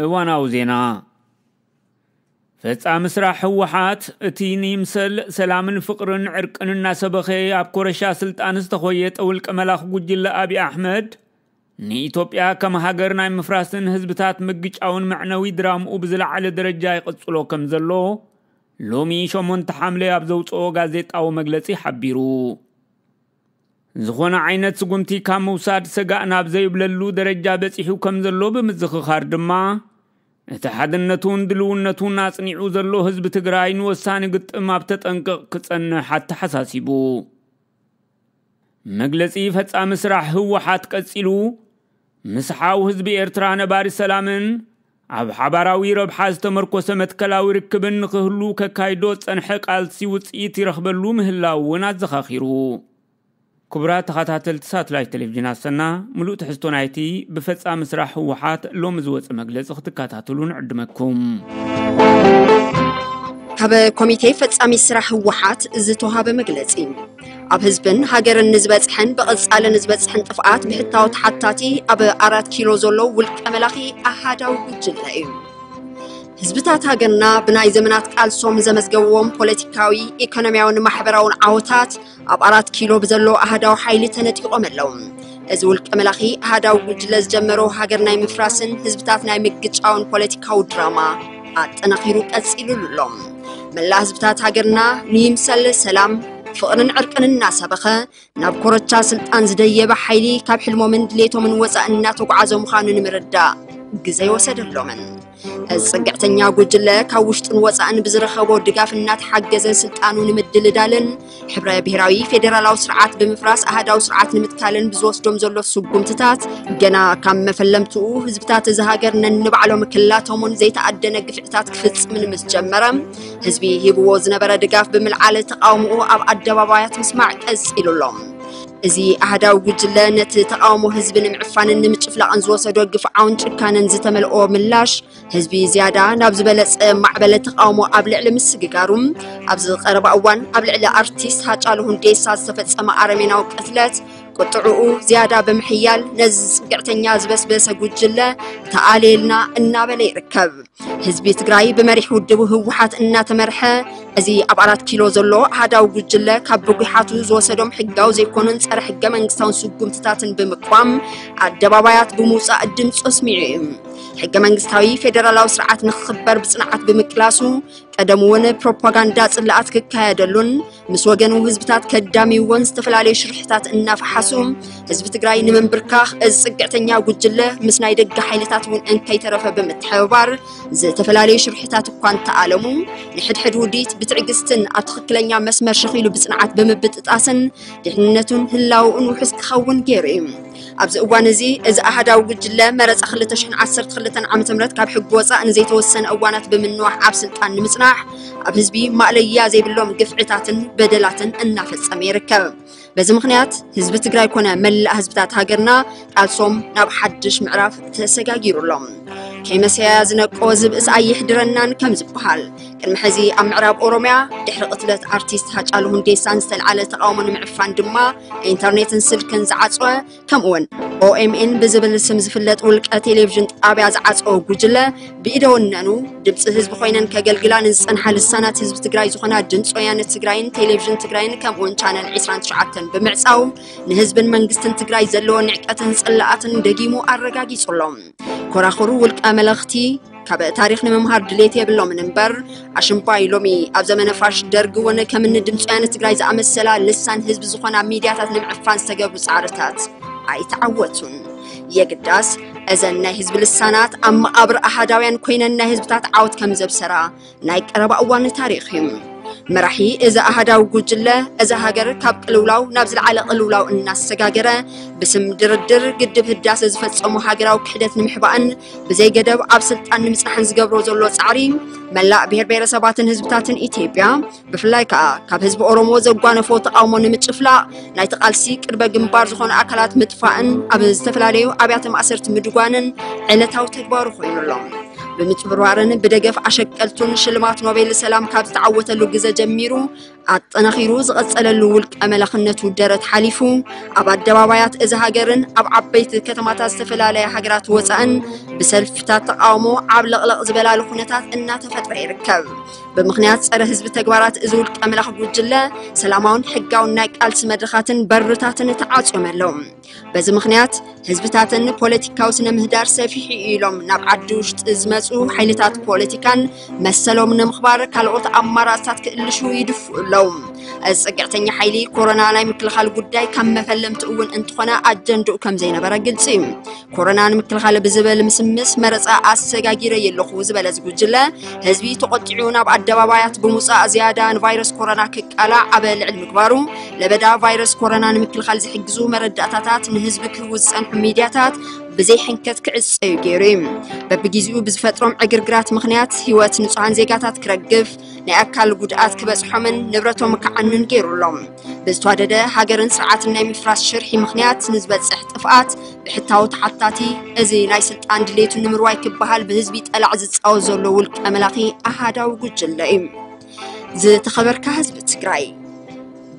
እዋናዊ ዜና ፈፃሚ ስራሕ ህወሓት እቲ ንይምሰል ሰላምን ፍቕርን ዕርቅን እናሰበኸ ኣብ ኮረሻ ስልጣን ዝተኾየጠ ውልቀ መላኽ ጉጅለ ኣብዪ ኣሕመድ ንኢትዮጵያ ከም ሃገር ናይ ምፍራስን ህዝብታት ምግጫውን መዕነዊ ድራምኡ ብዝለዓለ ደረጃ ይቕጽሎ ከም ዘሎ ሎሚ ሸሞንተ ሓምለ ኣብ ዘውጽኦ ጋዜጣዊ መግለጺ ሓቢሩ። ዝኾነ ዓይነት ስጉምቲ ካብ ምውሳድ ሰጋእ ናብ ዘይብለሉ ደረጃ በጺሑ ከም ዘሎ ብምዝኽኻር ድማ እቲ ሓድነቱን ድልውነቱን ኣጽኒዑ ዘሎ ህዝቢ ትግራይ ንወሳኒ ግጥም ኣብ ተጠንቅቕ ክጸንሕ ኣተሓሳሲቡ። መግለጺ ፈጻሚ ስራሕ ህወሓት ቀጺሉ፣ ምስ ሓው ህዝቢ ኤርትራ ነባሪ ሰላምን ኣብ ሓባራዊ ረብሓ ዝተመርኮሰ መትከላዊ ርክብን ንኽህሉ ከካይዶ ዝጸንሐ ቃልሲ ውጽኢት ይረኽበሉ ምህላው እውን ኣዘኻኺሩ። ክቡራት ተኸታተልቲ ሳትላይት ቴሌቪዥን ኣሰና፣ ምሉእ ትሕዝቶ ናይቲ ብፈጻሚ ስራሕ ህወሓት ሎሚ ዝወጸ መግለጺ ክትከታተሉ ንዕድመኩም። ካብ ኮሚቴ ፈጻሚ ስራሕ ህወሓት ዝተውሃበ መግለጺ። ኣብ ህዝብን ሃገርን ንዝበጽሐን ብቐጻሊ ንዝበጽሕን ጥፍኣት ብሕታዊ ተሓታቲ ኣብ ኣራት ኪሎ ዘሎ ውልቀ መላኺ ኣሃዳዊ ጉጅለ እዩ። ህዝብታት ሃገርና ብናይ ዘመናት ቃልሶም ዘመዝገብዎም ፖለቲካዊ ኢኮኖሚያውን ማሕበራውን ዓወታት ኣብ ኣራት ኪሎ ብዘሎ ኣህዳዊ ሓይሊ ተነጢቖም ኣለዉ እዚ ውልቀ መላኺ ኣህዳዊ ጉጅለ ዝጀመሮ ሃገር ናይ ምፍራስን ህዝብታት ናይ ምግጫውን ፖለቲካዊ ድራማ ኣጠናኺሩ ቀፂሉሉ ኣሎ። መላእ ህዝብታት ሃገርና ንይምሰል ሰላም ፍቕርን ዕርቅን እናሰበኸ ናብ ኮረቻ ስልጣን ዝደየበ ሓይሊ ካብ ሕልሞምን ድሌቶምን ወፃእ እናተጓዓዘ ምዃኑ ንምርዳእ ግዘ ይወሰደሎምን። እዚ ፅግዕተኛ ጉጅለ ካብ ውሽጥን ወፃእን ብዝረኸቦ ድጋፍ እናተሓገዘ ስልጣኑ ንምድልዳልን ሕብረ ብሔራዊ ፌዴራላዊ ስርዓት ብምፍራስ ኣሃዳዊ ስርዓት ንምትካልን ብዝወስዶም ዘሎ ስጉምትታት ገና ካብ መፈለምትኡ ህዝብታት እዚ ሃገር ነንባዕሎም ክላተሙን ዘይተኣደነ ግፍዕታት ክፍፅምን ምስ ጀመረ ህዝቢ ሂብዎ ዝነበረ ድጋፍ ብምልዓል ተቃውምኡ ኣብ ኣደባባያት ምስማዕ ቀፂሉ ኣሎ። እዚ ኣህዳዊ ጉጅለ ነቲ ተቃውሞ ህዝቢ ንምዕፋንን ንምጭፍላቕን ዝወሰዶ ግፍዓውን ጭካነን ዝተመልኦ ምላሽ ህዝቢ ዝያዳ ናብ ዝበለጸ ማዕበለ ተቃውሞ ኣብ ልዕሊ ምስግጋሩ ኣብዚ ቀረባ እዋን ኣብ ልዕሊ ኣርቲስት ሃጫሉ ሁንዴሳ ዝተፈጸመ ኣረሜናዊ ቅትለት ቁጥዕኡ ዝያዳ ብምሕያል ነዚ ዝጽግዕተኛ ዝበስበሰ ጉጅለ ተኣልየልና እናበለ ይርከብ ህዝቢ ትግራይ ብመሪሕ ውድቡ ህወሓት እናተመርሐ እዚ ኣብ ኣራት ኪሎ ዘሎ ኣሃዳዊ ጉጅለ ካብ ብጒሓቱ ዝወሰዶም ሕጋዊ ዘይኮኑን ጸረ ሕገ መንግስታውን ስጉምትታትን ብምቋም ኣደባባያት ብምውጻእ ድምፁ ኣስሚዑ እዩ ሕገ መንግስታዊ ፌዴራላዊ ስርዓት ንክኽበር ብፅንዓት ብምቅላሱ ቀደም እውን ፕሮፓጋንዳ ፅላኣት ክካየደሉን ምስ ወገኑ ህዝብታት ከዳሚዎን ዝተፈላለዩ ሽርሕታት እናፈሓሱ ህዝቢ ትግራይ ንምንብርካኽ እዚ ፅግዕተኛ ጉጅለ ምስ ናይ ደገ ሓይልታት እውን እንከይተረፈ ብምትሕብባር ዝተፈላለዩ ሽርሕታት እኳ እንተኣለሙ ንሕድሕድ ውዲት ብትዕግስትን ኣብ ትኽክለኛ መስመር ሸኺሉ ብፅንዓት ብምብጥጣስን ድሕንነቱን ህላውኡን ውሑስ ክኸውን ገይሩ እዩ ኣብዚ እዋን እዚ እዚ ኣሃዳዊ ጉጅለ መረፃ 2012 ዓ ም ካብ ሕጊ ወፃእ ንዘይተወሰነ እዋናት ብምንዋሕ ኣብ ስልጣን ንምፅናሕ ኣብ ህዝቢ ማእለያ ዘይብሎም ግፍዕታትን በደላትን እናፈፀመ ይርከብ። በዚ ምክንያት ህዝቢ ትግራይ ኮነ መላእ ህዝብታት ሃገርና ቃልሶም ናብ ሓድሽ ምዕራፍ ተሰጋጊሩ ኣሎ። ከይመሰያ ዝነቆ ዝብእስ ኣይሕድረናን ከም ዝበሃል ቅድሚ ሕዚ ኣብ ምዕራብ ኦሮምያ ድሕሪ ቅትለት ኣርቲስት ሃጫሉ ሁንዴሳን ዝተልዓለ ተቃውሞ ንምዕፋን ድማ ኢንተርኔትን ስልክን ዝዓፅወ ከምኡውን ኦኤምኤን ብዝብል ስም ዝፍለጥ ውልቀ ቴሌቭዥን ጣብያ ዝዓፀወ ጉጅለ ብኢደ ወነኑ ድምፂ ህዝቢ ኮይነን ከገልግላ ንዝፀንሓ ልሳናት ህዝቢ ትግራይ ዝኾና ድምፂ ወያነ ትግራይን ቴሌቭዥን ትግራይን ከምኡውን ቻነል 29 ብምዕፃው ንህዝብን መንግስትን ትግራይ ዘለዎ ንዕቀትን ፅላኣትን ደጊሙ ኣረጋጊፁ ኣሎ። ኮራኹሩ ውልቀ መለኽቲ ካብ ታሪኽ ንምምሃር ድሌት የብሎምን እምበር ኣሽምባይ ሎሚ ኣብ ዘመነ ፋሽ ደርግ እውን ከምኒ ድምፂ ወያነ ትግራይ ዝኣመሰላ ልሳን ህዝቢ ዝኾና ሚድያታት ንምዕፋን ዝተገብሩ ፃዕርታት ኣይተዓወቱን። የግዳስ እዘን ናይ ህዝቢ ልሳናት ኣብ መቓብር ኣሃዳውያን ኮይነን ናይ ህዝብታት ዓወት ከም ዘብሰራ ናይ ቀረባ እዋን ታሪኽ እዩ መራሒ እዚ ኣሃዳዊ ጉጅለ እዛ ሃገር ካብ ቅልውላው ናብ ዝለዓለ ቅልውላው እናሰጋገረ ብስም ድርድር ግድብ ህዳሰ ዝፈፀሙ ሃገራዊ ክሕደት ንምሕባእን ብዘይ ገደብ ኣብ ስልጣን ንምፅናሕን ዝገብሮ ዘሎ ፃዕሪ መላእ ብሄር ብሄረሰባትን ህዝብታትን ኢትዮጵያ ብፍላይ ከዓ ካብ ህዝቢ ኦሮሞ ዘጓነፎ ተቃውሞ ንምጭፍላቕ ናይቲ ቃልሲ ቅድመ ግንባር ዝኾኑ ኣካላት ምጥፋእን ኣብ ዝተፈላለዩ ኣብያተ ማእሰርቲ ምድጓንን ዕለታዊ ተግባሩ ኮይኑ ኣሎ። ብምጭብርባርን ብደገፍ ኣሸቀልቱን ሽልማት ኖቤል ሰላም ካብ ዝተዓወተሉ ግዘ ጀሚሩ ኣጠናኺሩ ዝቐፀለሉ ውልቀ መላኽነቱ ደረት ሓሊፉ ኣብ ኣደባባያት እዚ ሃገርን ኣብ ዓበይቲ ከተማታት ዝተፈላለያ ሃገራት ወፃእን ብሰልፍታት ተቃውሞ ዓብለቕለቕ ዝበላሉ ኩነታት እናተፈጥረ ይርከብ። ብምኽንያት ጸረ ህዝቢ ተግባራት እዚ ውልቀ መላኽ ጉጅለ ሰላማውን ሕጋውን ናይ ቃልሲ መድረኻትን በርታትን ተዓጽዮም ኣለዉ በዚ ምኽንያት ህዝብታትን ፖለቲካዊ ስነ ምህዳር ሰፊሑ እዩ ኢሎም ናብ ዓዲ ውሽጢ ዝመፁ ሓይልታት ፖለቲካን መሰሎም ንምኽባር ካልኦት ኣማራፅታት ክእልሹ ይድፍኡ ኣለዉ እዚ ፅግዕተኛ ሓይሊ ኮሮና ናይ ምክልኻል ጉዳይ ካብ መፈለምቲ እውን እንትኾነ ኣጀንድኡ ከም ዘይነበረ ግልፂ እዩ ኮሮና ንምክልኻል ብዝብል ምስምስ መረፃ ኣሰጋጊረ የለኹ ዝበለ እዚ ጉጅለ ህዝቢ ተቖጢዑ ናብ ኣደባባያት ብምውፃእ ዝያዳ ንቫይረስ ኮሮና ክቃላዕ ኣብ ልዕሊ ምግባሩ ለበዳ ቫይረስ ኮሮና ንምክልኻል ዝሕግዙ መረዳእታታት ንህዝቢ ክህቡ ዝፀንሑ ሚድያታት ብዘይ ሕንከት ክዕፀዩ ገይሩ እዩ በብግዜኡ ብዝፈጥሮም ዕግርግራት ምክንያት ህይወት ንፁሃን ዜጋታት ክረግፍ ናይ ኣካል ጉድኣት ክበፅሖምን ንብረቶም ክዓኑን ገይሩ ኣሎ ብዝተዋደደ ሃገርን ስርዓትን ናይ ምፍራስ ሽርሒ ምኽንያት ንዝበጽሕ ጥፍኣት ብሕታዊ ተሓታቲ እዚ ናይ ስልጣን ድሌቱ ንምርዋይ ክበሃል ብህዝቢ ጠላዕ ዝፃወት ዘሎ ውልቀ መላኺ ኣሃዳዊ ጉጅለ እዩ ዝተኸበርካ ህዝቢ ትግራይ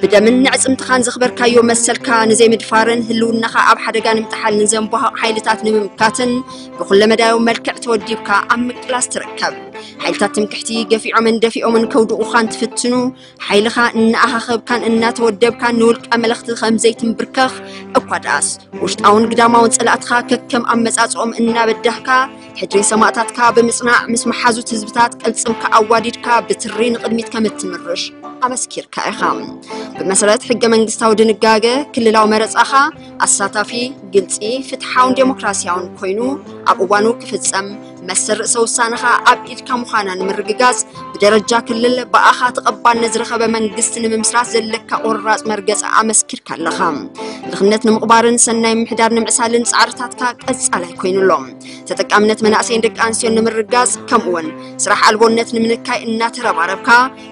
ብደምን ንዕፅምትኻን ዘኽበርካዮ መሰልካ ንዘይምድፋርን ህልውናኻ ኣብ ሓደጋ ንምጥሓል ንዘንቧሃቕ ሓይልታት ንምምካትን ብኩለ መዳዩ መልክዕ ተወዲብካ ኣብ ምቅላስ ትርከብ ሓይልታት ትምክሕቲ ገፊዖምን ደፊኦምን ከውድቑኻን ትፍትኑ ሓይልኻ እናኣኻኸብካን እናተወደብካን ንውልቀ መለኽቲ ከም ዘይትንብርከኽ እኳ ደኣስ ውሽጣውን ግዳማውን ጸላእትኻ ከከም ኣመጻጽኦም እናበዳህካ ሕድሪ ሰማእታትካ ብምጽናዕ ምስ መሓዙት ህዝብታት ቅልጽምካ ኣዋዲድካ ብትሪ ንቕድሚት ከም እትምርሽ ኣመስኪርካ ኢኻ ብመሰረት ሕገ መንግስታዊ ድንጋገ ክልላዊ መረጻኻ ኣሳታፊ ግልጺ ፍትሓውን ዴሞክራሲያውን ኮይኑ ኣብ እዋኑ ክፍጸም መሰል ርእሰ ውሳነኻ ኣብ ኢድካ ምዃና ንምርግጋጽ ብደረጃ ክልል ብኣኻ ተቐባልነት ዝረኸበ መንግስቲ ንምምስራት ዘለካ ቆራጽ መርገጺ ኣመስኪርካ ኣለኻ። ድኽነት ንምቕባርን ሰናይ ምሕዳር ንምዕሳልን ጻዕርታትካ ቀጻላይ ኮይኑ ኣሎ። ተጠቃምነት መናእሰይን ደቂ ኣንስትዮን ንምርጋጽ ከምኡ'ውን ስራሕ ኣልቦነት ንምንካይ እናተረባረብካ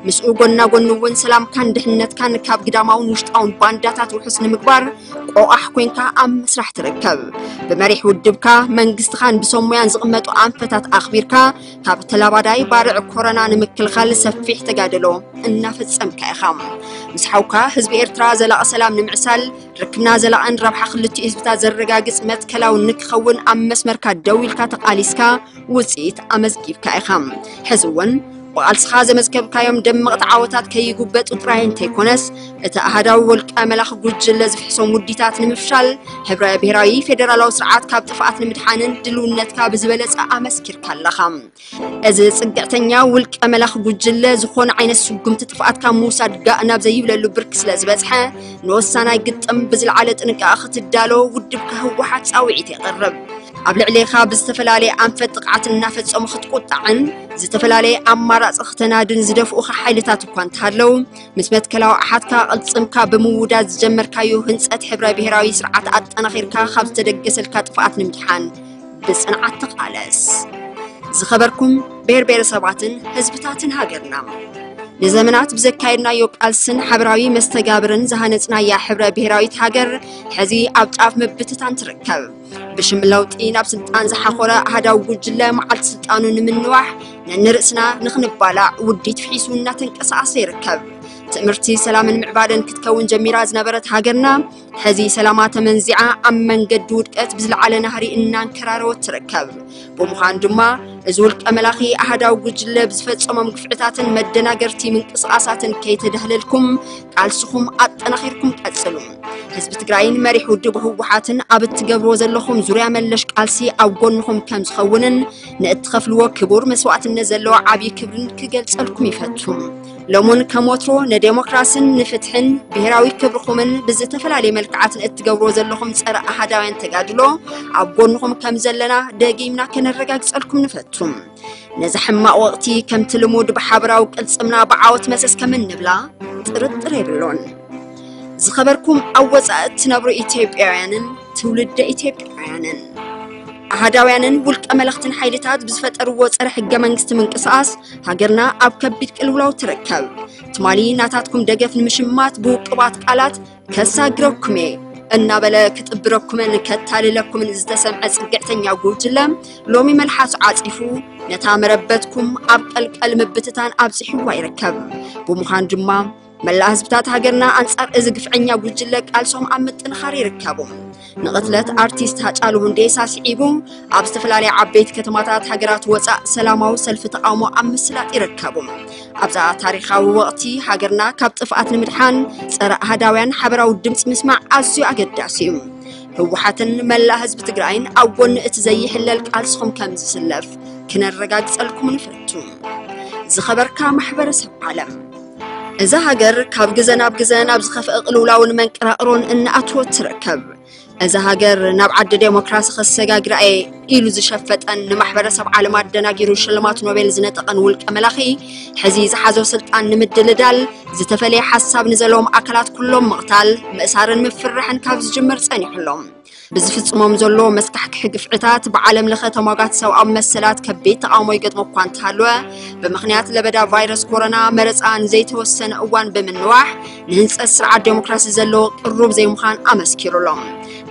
ምስኡ ጎና ጎኒ እውን ሰላምካን ድሕነትካን ካብ ግዳማውን ውሽጣውን ባንዳታት ውሑስ ንምግባር ቆቓሕ ኮንካ ኣብ ምስራሕ ትርከብ ብመሪሕ ውድብካ መንግስትኻን ብሰብ ሙያን ዝቕመጡ ኣንፈታት ኣኽቢርካ ካብ ተላባዳይ ባርዕ ኮረና ንምክልኻል ሰፊሕ ተጋድሎ እናፈጸምካ ኢኻ ምስ ሓውካ ህዝቢ ኤርትራ ዘላቒ ሰላም ንምዕሳል ርክብና ዘላቕን ረብሓ ክልቲኡ ህዝብታት ዘረጋግጽ መትከላውን ንክኸውን ኣብ መስመርካ ደው ኢልካ ተቓሊስካ ውፅኢት ኣመዝጊብካ ኢኻ ሕዚ እውን ብቓልስኻ ዘመዝገብካዮም ደመቕቲ ዓወታት ከይጉበጡ ጥራይ እንተይኮነስ እቲ ኣሃዳዊ ወልቀ መላኽ ጉጅለ ዝፍሕሶም ውዲታት ንምፍሻል ሕብረ ብሔራዊ ፌዴራላዊ ስርዓት ካብ ጥፍኣት ንምድሓንን ድልውነትካ ብዝበለፀ ኣመስኪርካ ኣለኻ እዚ ፅግዕተኛ ውልቀ መላኽ ጉጅለ ዝኾነ ዓይነት ስጉምቲ ጥፍኣት ካብ ምውሳድ ጋእ ናብ ዘይብለሉ ብርኪ ስለ ዝበፅሐ ንወሳናይ ግጥም ብዝለዓለ ጥንቃቐ ክትዳሎ ውድብካ ህወሓት ፃውዒት የቕርብ ኣብ ልዕሌኻ ብዝተፈላለየ ኣንፈት ጥቕዓት እናፈጸሙ ክትቁጣዕን ዝተፈላለየ ኣማራፂ ክተናድን ዝደፍኡኻ ሓይልታት እኳ እንተሃለው ምስ መትከላዊ ኣሓትካ ቅልፅምካ ብምውዳድ ዝጀመርካዮ ህንፀት ሕብረ ብሔራዊ ስርዓት ኣጠናኺርካ ካብ ዝተደገሰልካ ጥፍኣት ንምድሓን ብፅንዓት ተቃለስ። ዝኸበርኩም ብሔር ብሔረሰባትን ህዝብታትን ሃገርና ንዘመናት ብዘካየድናዮ ቃልስን ሓበራዊ መስተጋብርን ዝሃነፅናያ ሕብረ ብሔራዊት ሃገር ሕዚ ኣብ ጫፍ ምብትታን ትርከብ። ብሽም ለውጢ ናብ ስልጣን ዝሓኾረ ኣህዳዊ ጉጅለ መዓልቲ ስልጣኑ ንምንዋሕ ነንርእስና ንኽንባላዕ ውዲት ፍሒሱ እናተንቀሳቐሰ ይርከብ ትምህርቲ ሰላምን ምዕባለን ክትከውን ጀሚራ ዝነበረት ሃገርና ሕዚ ሰላማ ተመንዚዓ ኣብ መንገዲ ውድቀት ብዝለዓለ ናህሪ እናንከራረወት ትርከብ ብምዃን ድማ እዚ ውልቀ መላኺ ኣሃዳዊ ጉጅለ ብዝፈጸሞም ግፍዕታትን መደናገርቲ ምንቅስቓሳትን ከይተዳህለልኩም ቃልስኹም ኣጠናኺርኩም ቀጽሉ። ህዝቢ ትግራይን መሪሕ ውድብ ህወሓትን ኣብ እትገብርዎ ዘለኹም ዙርያ መለሽ ቃልሲ ኣብ ጎንኹም ከም ዝኸውንን ንእትኸፍልዎ ክቡር መስዋእትነት ዘለዎ ዓብዪ ክብርን ክገልጸልኩም ይፈቱ። ሎሙን ከም ወትሮ ንዴሞክራስን ንፍትሕን ብሄራዊ ክብርኹምን ብዝተፈላለየ መልክዓት ንእትገብሮ ዘለኹም ፀረ ኣሃዳውያን ተጋድሎ ኣብ ጎንኹም ከም ዘለና ደጊምና ከነረጋግፀልኩም ንፈቱ። ነዚ ሕማቕ ወቕቲ ከምቲ ልሙድ ብሓበራዊ ቅልፅምና ብዓወት መሰስ ከም እንብላ ጥርጥር የብሎን። ዝኸበርኩም ኣብ ወፃኢ እትነብሩ ኢትዮጵያውያንን ትውልደ ኢትዮጵያውያንን ኣሃዳውያንን ውልቀ መለኽትን ሓይልታት ብዝፈጠርዎ ፀረ ሕገ መንግስቲ ምንቅስቓስ ሃገርና ኣብ ከቢድ ቅልውላው ትርከብ ትማሊ ናታትኩም ደገፍ ንምሽማት ብውቅባት ቃላት ከሳግረኩም እየ እናበለ ክጥብረኩምን ከታልለኩምን ዝተሰምዐ ፅግዕተኛ ጉጅለ ሎሚ መልሓሱ ዓፂፉ ነታ መረበትኩም ኣብ ቀልቀል ምብትታን ኣብፂሕዋ ይርከብ ብምዃን ድማ መላእ ህዝብታት ሃገርና ኣንጻር እዚ ግፍዐኛ ጉጅለ ቃልሶም ኣብ ምጥንኻር ይርከቡ ንቕትለት ኣርቲስት ሃጫሉ ሁንዴሳ ስዒቡ ኣብ ዝተፈላለያ ዓበይቲ ከተማታት ሃገራት ወፃእ ሰላማዊ ሰልፊ ተቃውሞ ኣብ ምስላጥ ይርከቡ ኣብዛ ታሪኻዊ ወቕቲ ሃገርና ካብ ጥፍኣት ንምድሓን ፀረ ኣህዳውያን ሓበራዊ ድምፂ ምስማዕ ኣዝዩ ኣገዳሲ እዩ ህወሓትን መላእ ህዝቢ ትግራይን ኣብ ጎኒ እቲ ዘይሕለል ቃልስኹም ከም ዝስለፍ ክነረጋግፀልኩም ንፈቱ ዝኸበርካ ማሕበረሰብ ዓለም እዛ ሃገር ካብ ግዘ ናብ ግዘ ናብ ዝኸፍአ ቅልውላውን መንቀራቕሮን እናኣትወት ትርከብ። እዛ ሃገር ናብ ዓዲ ዴሞክራሲ ከሰጋግራ እየ ኢሉ ዝሸፈጠን ንማሕበረሰብ ዓለም ኣደናጊሩ ሽልማት ኖቤል ዝነጠቐን ውልቀ መላኺ ሕዚ ዝሓዞ ስልጣን ንምድልዳል ዝተፈለየ ሓሳብ ንዘለዎም ኣካላት ኩሎም ምቕታል፣ ምእሳርን ምፍርራሕን ካብ ዝጅምር ጸኒሑሎም። ብዝፍጽሞም ዘሎ መስካሕክሒ ግፍዕታት ብዓለም ለኸ ተሟጋት ሰብኣዊ መሰላት ከቢድ ተቓውሞ ይገጥሞ እኳ እንተሃለወ ብምኽንያት ለበዳ ቫይረስ ኮሮና መረፃ ንዘይተወሰነ እዋን ብምንዋሕ ንህንፀት ስርዓት ዴሞክራሲ ዘለዎ ቅሩብ ዘይምዃን ኣመስኪሩ ኣሎ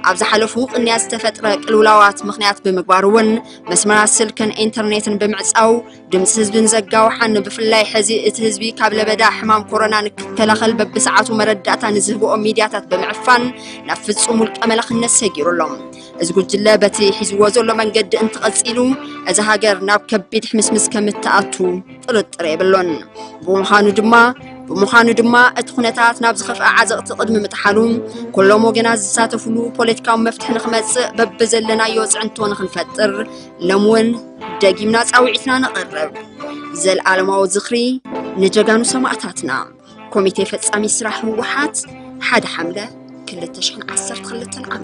ኣብ ዝሓለፉ ቅንያት ዝተፈጥረ ቅልውላዋት ምኽንያት ብምግባር እውን መስመራት ስልክን ኢንተርኔትን ብምዕፃው ድምፂ ህዝቢ ንዘጋውሓን ብፍላይ ሕዚ እቲ ህዝቢ ካብ ለበዳ ሕማም ኮሮና ንክከላኸል በብሰዓቱ መረዳእታ ንዝህብኦ ሚድያታት ብምዕፋን ናብ ፍፁም ውልቀ መላኽነት ሰጊሩ ኣሎ። እዚ ጉጅለ በቲ ሒዝዎ ዘሎ መንገዲ እንተቐፂሉ እዛ ሃገር ናብ ከቢድ ሕምስምስ ከምትኣቱ ጥርጥር የብሎን። ብምዃኑ ድማ ብምዃኑ ድማ እቲ ኩነታት ናብ ዝኸፍአ ዓዘቕቲ ቅድሚ ምጥሓሉ ኩሎም ወገናት ዝሳተፍሉ ፖለቲካዊ መፍትሒ ንክመፅእ በብዘለናዮ ፅዕንቶ ንክንፈጥር ሎም እውን ደጊምና ፃውዒትና ነቕርብ። ዘለኣለማዊ ዝኽሪ ንጀጋኑ ሰማእታትና! ኮሚቴ ፈጻሚ ስራሕ ህወሓት ሓደ ሓምለ 212 ዓ ም